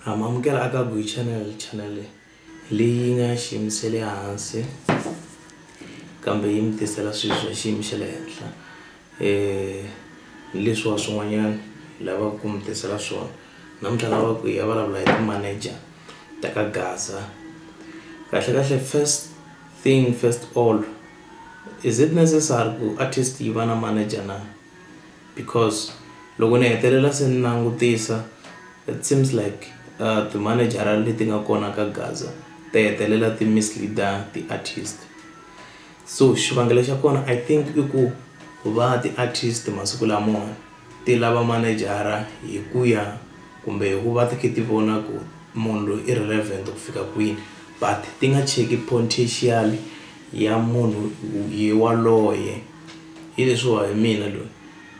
ra mamukela aka Guy Channel channel leyi nga xiyimo xa le hansi kambe yi mi tisela swilo swa xiyimo xa le henhla um hi leswiwa swin'wanyana hi lavaka ku mi tisela swona namuntlha ni lava ku hi ya vulavula hi ti-manager ta ka Gaza kahlekahle first thing first all is it necessary ku artist yi va na manager na. because loko ni hetelela se ni langutisa it seems like timanejara leti nga kona ka gaza ti hetelela ti mislead-a ti-artist so xivangelo xa kona I think i ku va ti-artist masiku lamawani ti lava manejara hi ku ya kumbe hi ku va ti kha ti vona ku munhu loyi i relevant ku fika kwini but ti nga cheki potential ya munhu yaloye. hi leswiwa hi mina loyi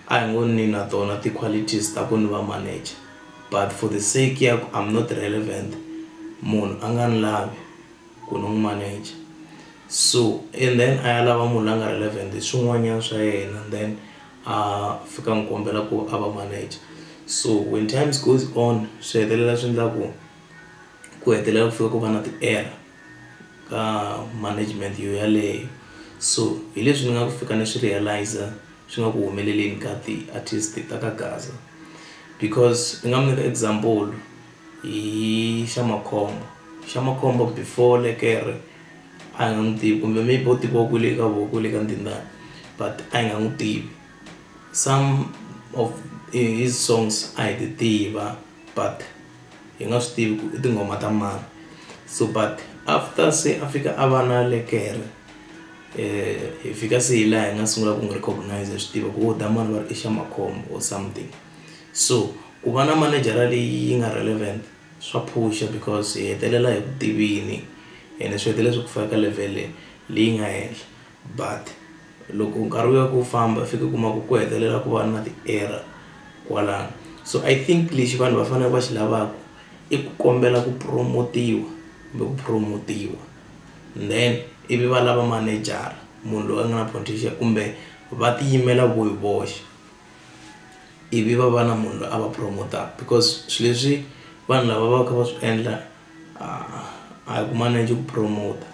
a hi ngo ni na tona ti-qualities ta ku ni va manager but for the sake ya ku I'm not relevant munhu a nga ni lavi ku ni n'wi manager so and then a ya lava munhu la nga relevant hi swin'wanyana swa yena then a fika a n'wi kombela ku a va manager so when times goes on swi hetelela swi endla ku ku hetelela ku fika ku va na ti-error. ka management yo yaleyo so hi leswi ni nga ku fika ni swi realiser swi nga ku humeleleni ka ti-artist ta ka gaza because ni nga mi nyika example hi xa makhombo xa makhombo before lekere a hi nga n'wi tivi kumbe maybe u tiviwa kwele ka voho kwele ka ndindani but a hi nga n'wi tivi some of his songs a hi ti tiva but. hi nga swi tivi ku i tinghoma ta mani so but after se a fika a va na lekere hi fika se hi laha hi nga sungula ku n'wi recognize hi swi tiva ku wo damani va ri i xa makhombo or something so ku va na manejara leyi yi nga relevant swa phusha because hi hetelela hi ku tivile ene swi hetelela swi ku faka ka level leyi nga henhla. But loko nkarhi wu ya ku wu famba u fika u kuma ku ku hetelela ku va na ti error kwalano so I think lexi vanhu va faneleke va xi lavaka i ku kombela ku promote-iwa kumbe ku promote-iwa then ivi va lava manejara munhu loyi a nga na potential kumbe va ti yimela vo hi voxe ivi va va na munhu loyi a va promote-aka because swilo leswi vanhu lava va kha va swi endla a hi ku manage ku promote-a.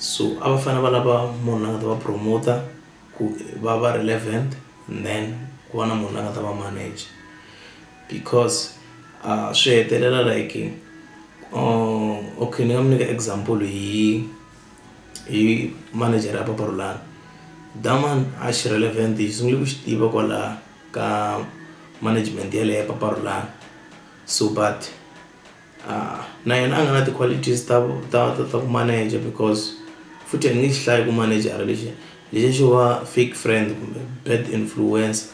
So a va fanele va lava munhu la nga ta va promote-a ku va va relevant and then ku va na munhu la nga ta va manager because a swi hetelela like okay ni nga mi nyika example hi hi manager ya Papa Rhulani da man a xi relevant hi sungule ku xi tiva kwala ka management yaleyo ya Papa Rhulani so but. a na yena a nga na ti-qualities ta ta ta ta ku manager because futhi ni nge xi hlayi ku manejara lexi lexi xo va fake friend kumbe bad influence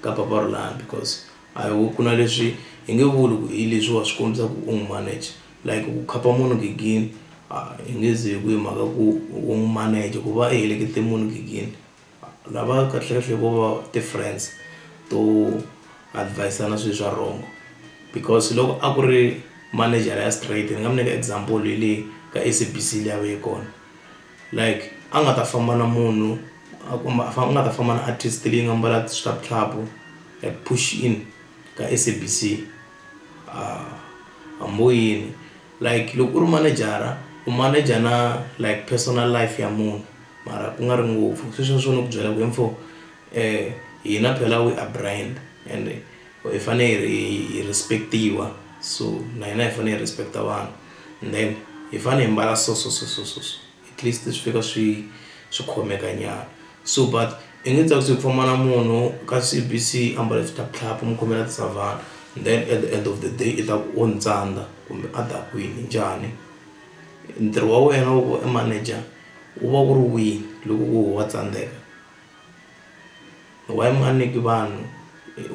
ka papa rolani because a hi ku na leswi hi nge vuli ku hi leswi wa swi kombisa ku u n'wi manager like ku khapa munhu gigini a hi nge ze ku hi mhaka ku u n'wi manager ku va i helekete munhu gigini. Lava kahlekahle vo va ti-friends to advise-ana swilo swa wrong because loko a ku ri manejara ya straight ni nga mi nyika example hi leyi ka S_A_B_C leyi a yi ve kona like a nga ta famba na munhu a ku a nga ta famba na artist leyi nga mbala swihlavuhlavu like push in ka S_A_B_C a hambi wo yini. Like loko u ri manejara u maneja na like personal life ya munhu mara ku nga ri ngopfu sweswo swo ni ku byela ku info hina phela we are brand and hi fane hi ri hi respect-iwa so na hina hi fane hi respect-a vanhu then hi fane hi mbala so so so so so so. at least swi fika swi swi khomeka nyana so but i nge tsakisi ku famba na munhu ka C_B_C a mbale swiphyaphyaphya u mu khomela tisavana then at the end of the day i ta ku o ni tsandza kumbe a dakwini njhani ntirho wa wena wa ku va i manager wu va wu ri wihi loko wo wa tsandzeka why mi nga nyiki vanhu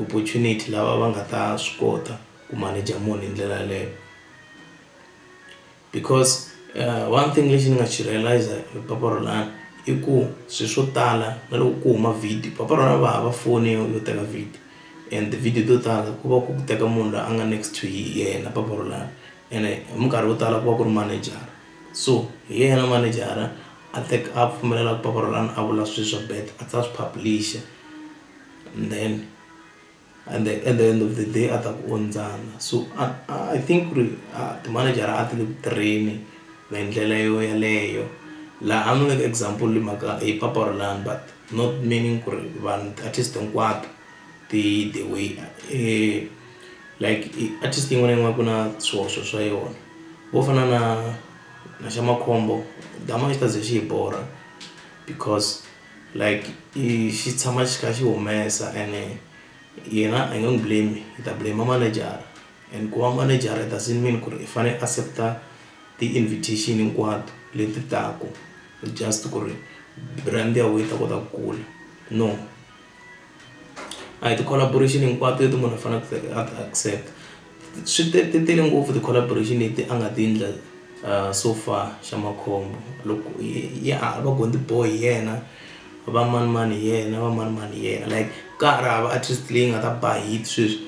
opportunity lava va nga ta swi kota ku manager munhu hi ndlela yeleyo. Because one thing lexi ni nga xi realiser hi papa Rolani i ku swilo swo tala na loko ku huma video papa Rolani a va hava foni yo yo teka video and ti-video to tala ku va ku ku teka munhu loyi a nga next to yena papa Rolani ene hi minkarhi yo tala ku va ku ri manejara so hi yena manejara a a pfumelelaka papa Rolani a vula swilo swa bad a tlhela a swi publish-a then. and the, at the end of the day a ta ku ondzana so I, I think ku ri timanejara a ti le ku tirheni hi ndlela yo yaleyo laha a ni nyika example hi mhaka hi papa orlani but not meaning ku ri vanhu ti-artist hinkwato ti the way eh, like artist yin'wana na yin'wana ku na swihoxo swa yona vo fana na na xa makhombo dama xi ta ze xi hi borha because like i xi tshama xi kha xi humesa ene yena i nge n'wi blame i ta blame manejara and ku va manejara it doesn't mean ku ri i fanele a accept-a ti-invitation hinkwato leti taka just ku ri brand ya wena yi ta kota ku kula no. A hi ti-collaboration hinkwato leti munhu a faneleke a ti accept swi te ti tele ngopfu ti-collaboration leti a nga ti endla so far xa makhombo loko ya ha va Gondi boy hi yena va mani mani hi yena va mani mani hi yena like ka ha ri hava artist leyi nga ta ba hit sweswi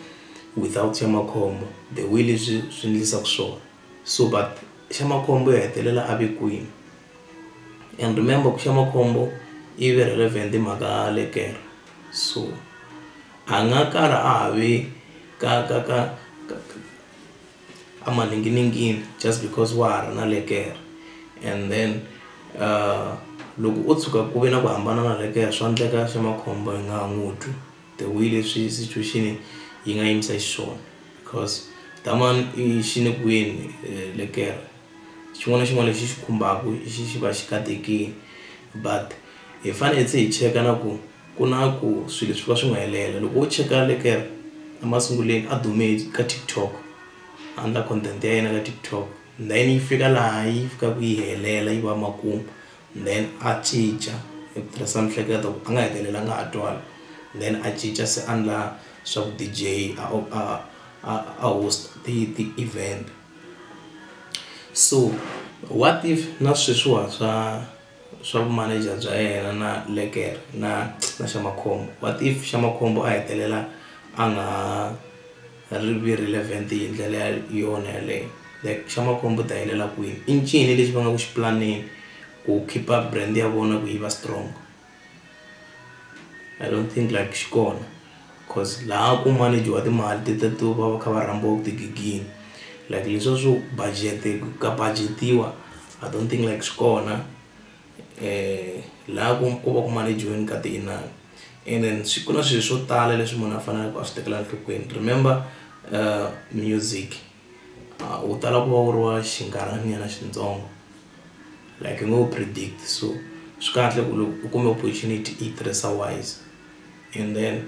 without xa makhombo the way leswi swi endlisaka swona. So but Shamakhombo ya hetelela a ve kwini and remember ku Shamakhombo i ve relevant hi mhaka lekere so a nga kala a ha ve ka ka ka ka a maninginingini just because wa ha ri na lekere and then loko o tshuka ku ve na ku hambana na lekere swa endleka Shamakhombo hi nga ha n'wi twi. the way leswi situation yi nga yimisa xiswona because that one i xi le kweni lekere xin'wana na xin'wana lexi xi khumbaka xi xi va xi katekile but hi fanele se hi cheka na ku ku na ku swilo swi va swi nga helela loko wo cheka lekere emasungulweni a dume ka TikTok a endla content ya yena ka TikTok then yi fika laha yi fikaka yi helela yi va makumu. then a cinca hi ku tirhisa miehleketo a nga hetelela a nga ha twanga then a cinca se a endla swa vu D_J a a a a host ti ti event. So what if na sweswiwa swa swa vu manager bya yena na Lekere na na Shamakhombo what if Shamakhombo a hetelela a nga ha. Ri vi relevant hi ndlela ya yona yaleyo like xa makhombo u ta helela kwini i ncini lexi va nga ku xi pulaneni ku khipa brand ya vona ku yi va strong I don't think like xi kona coz laha ku manage-wa timali ti ta ti va va kha va rhambiwa ku tigigini like leswiya swo budget ka budget-iwa I don't think like swi kona. laha ku ku va ku manage-iweni ka ti-inani and then ku na swilo swo tala leswi munhu a faneleke a swi tekela enhlokweni remember music u tala ku va u ri wa xinkarhananyana xintsongo like u ngo predict so swi kahle ku loko u kuma opportunity i yi tirhisa wise. and then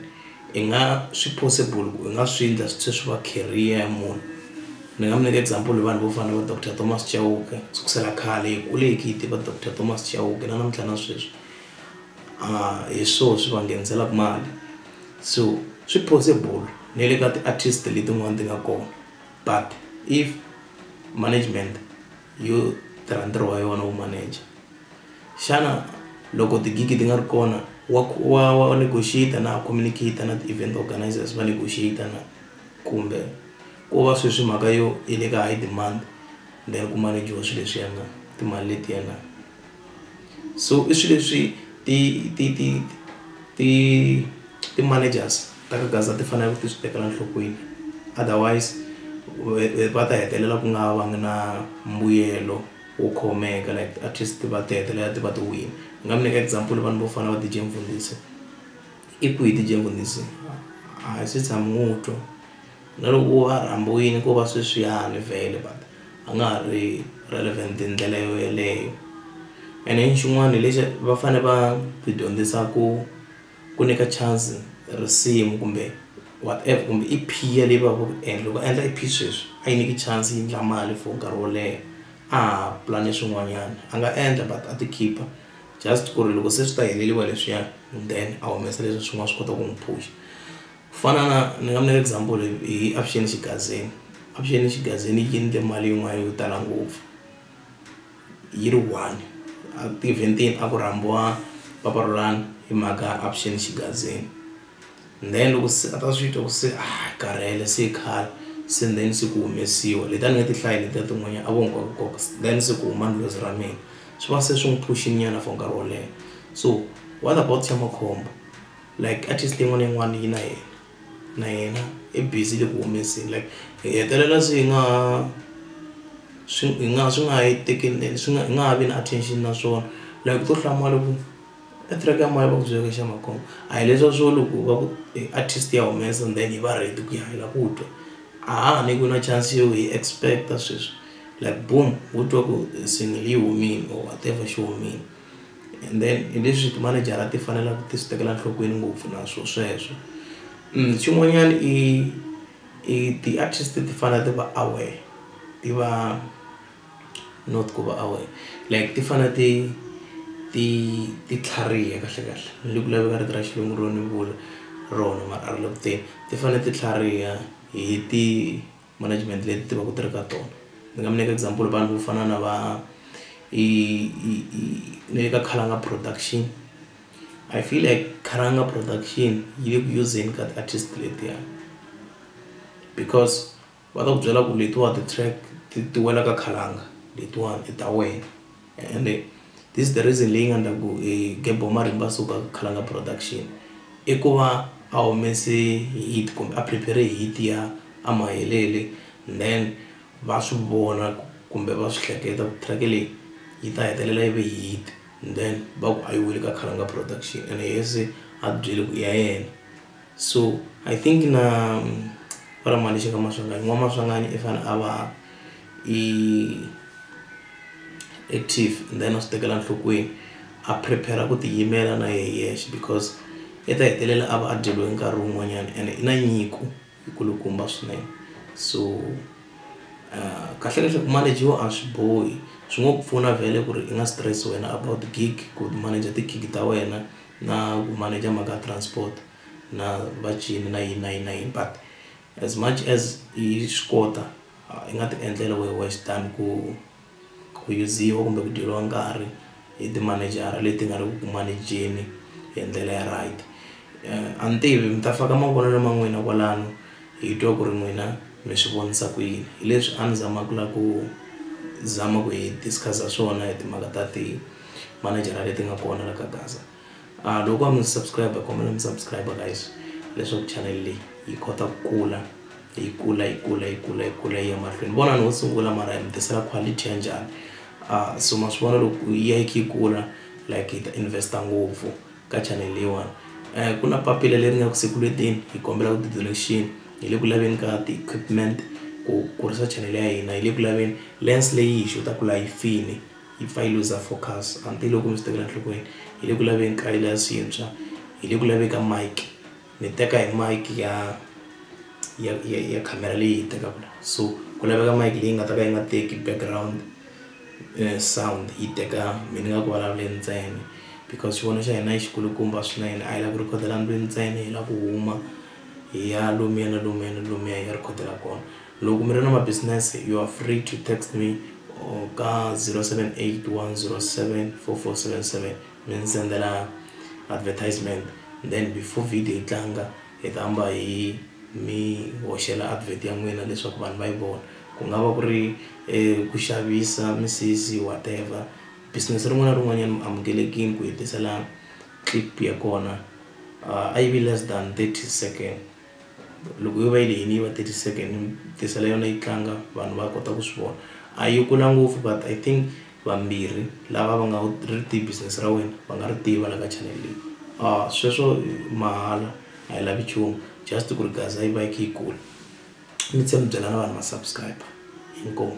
i nga swi possible ku i nga swi endla swi tlhe swi va career ya munhu ni nga mi nyika example vanhu vo fana na va doctor Thomas Chauke sukusela khale hi kule hi kha hi tiva doctor Thomas Chauke na namuntlha na sweswi hi swo swi va ngheniselaka mali so swi possible na le ka ti-artist letin'wani ti nga kona but if management. yo tirha ntirho wa yona wu manager xana loko ti-gig ti nga ri kona wa wa wa wa negotiate na communicate na ti-event organizers va negotiate na kumbe ko va sweswi mhaka yo yi le ka high demand then ku manager-wa swilo leswiya na timali letiya na. so i swilo leswi ti ti ti ti ti-managers ta ka gaza ti faneleke ti swi tekela enhlokweni otherwise va ta hetelela ku nga va ngi na mbuyelo wo khomeka like artist va ta hetelela ti va ti wile ni nga mi nyika example vanhu vo fana na va D_J Mfundisi i kwihi D_J Mfundisi a hi se tshama ni n'wi twa. Na loko u a rhambiwile ko va sweswiyani vhele but a nga ha ri relevant hi ndlela yo yeleyo and then xin'wana lexi va fane va hi dyondzisa ku ku nyika chance risimu kumbe whatever kumbe i piece leyi va ku and loko a endla i piece sweswi a yi nyiki chance yi endla mali for nkarhi wo leha a ha pulani swin'wanyana a nga endla but a ti khipa just ku ri loko se swi ta heleriwa hi leswiya then a humesa leswiya swin'wana swi kota ku n'wi phusha. Ku fana na ni nga mi nyela example hi Avuxeni xigazini. Avuxeni xigazini yi endle mali yin'wana yo tala ngopfu yi ri one a ti-event-ini a ku rhambiwa papa Rhulani hi mhaka Avuxeni xigazini then loko se a ta swi twa ku se a hi karhele se khale se then se ku humesiwa leti a ni nga ti hlayi letiya tin'wanyana a vo nkoka nkoka then se ku huma ndlhozi ra mina swi va se swi n'wi phush-inyana for nkarhi wo leha so what about xa makhombo. like artist leyi n'wana yin'wana yi na yena na yena i busy le ku humeseni like hi hetelela se hi nga ha swi hi nga swi nga ha yi tekeli swi nga hi nga ha vi na attention na swona like u to hlamala ku e track ya mani va ku byela ku i xa makhombo a hi leswiya swo loko va ku i artist ya humesa and then hi va ready ku ya hi lava ku twa a ha ha nyikiwi na chance yo hi expect-a sweswi like boom ho twa ku single yi humile or whatever xi humile. And then hi leswi timanejara ti faneleke ti swi tekela nhlokweni ngopfu na swo sweswo mm, xin'wanyana i i ti-artist ti fanele ti va aware ti va not ku va aware like ti fanele ti ti ti tlhariha kahle kahle ni ku laveka rito ra xilungu ro ni vula rona mara a ri le kuteni ti fanele ti tlhariha hi ti management leyi ni ti tivaka ti ri ka tona. Ni nga mi nyika example vanhu vo fana na va i i i na le ka Khalanga production I feel like Khalanga production yi le ku useni ka ti-artist letiya because va ta ku byela ku letiwa ti-track ti wela ka Khalanga letiwani i ta wena. Ende this is the reason leyi nga ndla ku hi gembhe marimba so ka Khalanga production i ku va a humese hit kumbe a prepare hit ya a Mahelele then va swi vona kumbe va swi hleketa ku track leyi yi ta hetelela yi ve hit then va ku a yi weli ka Khalanga production ene a byele ku i ya yena. so i think na va ri mhani xi nga maswanganyi n'wamaswanganyi i fanele a va i active then a swi tekela nhlokweni a prepare ku tiyimela na yehe hi yexe because i ta hetelela a va a dyeriwe nkarhi wun'wanyana ene i na nyiko yi kulukumba swinene so kahle kahle ku manager-iwa a swi bohi swi ngo ku pfuna vhele ku ri i nga stress wena about gig ku manager ti-gig ta wena. Na ku manager mhaka ya transport na va cini na yini na yini na yini but as much as i swi kota i nga ti endlela wehe wexe than ku ku yiziwa kumbe ku dyeriwa nkarhi hi timanejara leti nga ri ku ku manejeni hi ndlela ya right. A ni tivi mi ta faka mavonelo ma n'wina kwalano hi twa ku ri n'wina mi swi vonisa ku yini hi leswi a ni zama ku la ku zama ku hi discuss-a swona hi timhaka ta ti. manejara leti nga kona la ka gaza loko ku nga mi subscribe kombela mi subscribe guys leswaku channel leyi yi kota ku kula yi kula yi kula yi kula yi kula yi ya mahlweni vona ni wo sungula mara hi mi tisela quality ya njhani uh, so ma swi vona loko yi ya yi kha yi kula like hi ta investa ngopfu ka channel leyiwani um ku na papila leri nga ku sekulweteni hi kombela ku ti-donation hi le ku laveni ka ti-equipment ku kurisa channel ya hina hi le ku laveni lens leyi hi xota ku la yi fini Yi pfa yi luza focus a ni tivi loko mi swi tekela enhlokweni hi le ku laveni ka yila swintshwa hi le ku laveni ka mike mi teka hi mike ya ya ya ya khamera leyi hi tekaka la so ku laveka mike leyi nga ta ka yi nga teki background sound yi teka mi ni nga ku vulavuleni ntsena because xivoni xa hina i xikulukumba swinene a hi lava ku rhikhodela ndlwini ntsena hi lava ku huma hi ya lomuya na lomuya na lomuya hi ya rhikhodela kona. Loko mi ri na mabisinese you are free to text me or ka 0781074477 mi ni sendela advertisement then before video yi tlanga hi ta hamba hi mi hoxela advert ya n'wina leswaku vanhu va yi vona ku nga va ku ri ku xavisa misisi whatever business rin'wana na rin'wanyana mi amukelekile ku hi tisela clip ya kona a yi vi less than thirty second. loko yo va yi lehini yi va thirty second tisele yona yi tlanga vanhu va kota ku swi vona a yi kula ngopfu but I think vambirhi lava va nga ri tiva business ra wena va nga ri tiva la ka channel leyi sweswo mahala a yi lavi nchumu just ku ri gaza yi va yi kha yi kula mi tlhela mi byela na vanhu va subscriber inkomu.